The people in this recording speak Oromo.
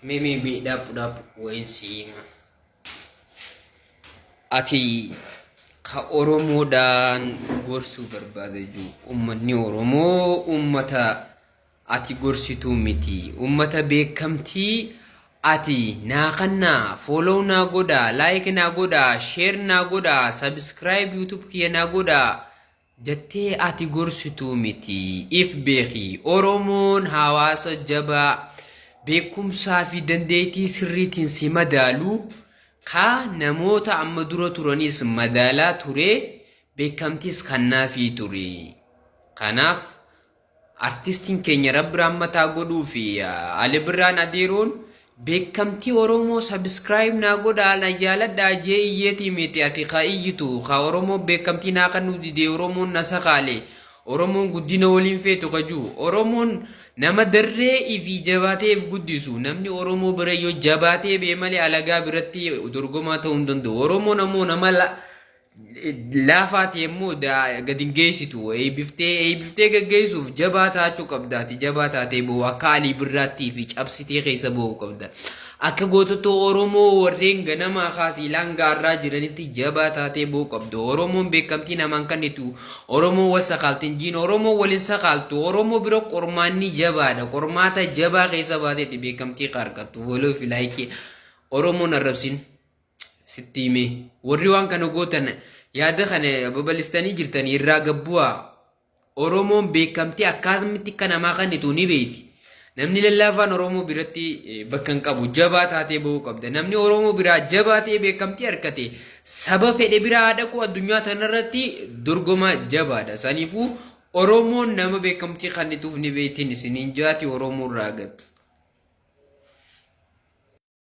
Mimi bi dhap dhap wayin siima. Ati ka Oromoodhaan gorsuu barbaade jiru uummanni Oromoo uummata ati gorsituu miti. Uummata beekamtii ati naa kannaa follow naa godhaa like naa godhaa share naa godhaa subscribe youtube kiyya naa godhaa. Jattee ati gorsituu miti if beeki oromoon hawaasa jabaa beekumsaa fi dandeeytii sirriitiin si madaalu kaa namoota amma dura turaniis madaalaa turee beekamtiis kannaafii ture kanaaf Artistiin keenya rabbi rahmat haa godhuu fi Ali Birraan Adeeroon beekamtii Oromoo subscribe naa godhaa na jaaladhaa jee iyyeetii miti ati ka iyyitu ka Oromoon beekamtii naa kennuu didee Oromoon na sakaalee Oromoon guddina waliin feetu ka juu Oromoon nama darree ifi jabaatee if guddisu namni Oromoo bira yoo jabaatee bee malee alagaa biratti dorgomaa ta'uu hin danda'u Oromoon ammoo nama laafaati yommuu gad hin geessitu eeybiftee eeybiftee gaggeessuuf jabaa taachuu qabdaati jabaa taatee ba'u akka alii birraattii fi cabsitee keessa ba'u qabda akka gootota oromoo warreen ganamaa kaasii laangaarraa jiranitti jabaa taatee ba'u qabda oromoon beekamtii namaan kennitu oromoo wal sakaaltiin jiin oromoo waliin sakaaltu oromoo bira qormaanni jabaadha qormaata jabaa keessa baateetti beekamtii ka argattu fooloo fi laayikii oromoon arrabsin. sitti hime warri waan kana gootan yaada kana babal'istanii jirtan irraa gabbu'aa oromoon beekamtii akkamitti akka namaa kennitu ni beekti namni lallaafaan oromoo biratti eh, bakka hin qabu jabaa taatee ba'uu qabda namni oromoo biraa jabaa ta'ee beekamtii harkate saba fedhe biraa haa dhaqu addunyaa tanarratti dorgomaa jabaadha saniifuu oromoon nama beekamtii kennituuf ni beektiin isiniin jaati oromoo irraa gati.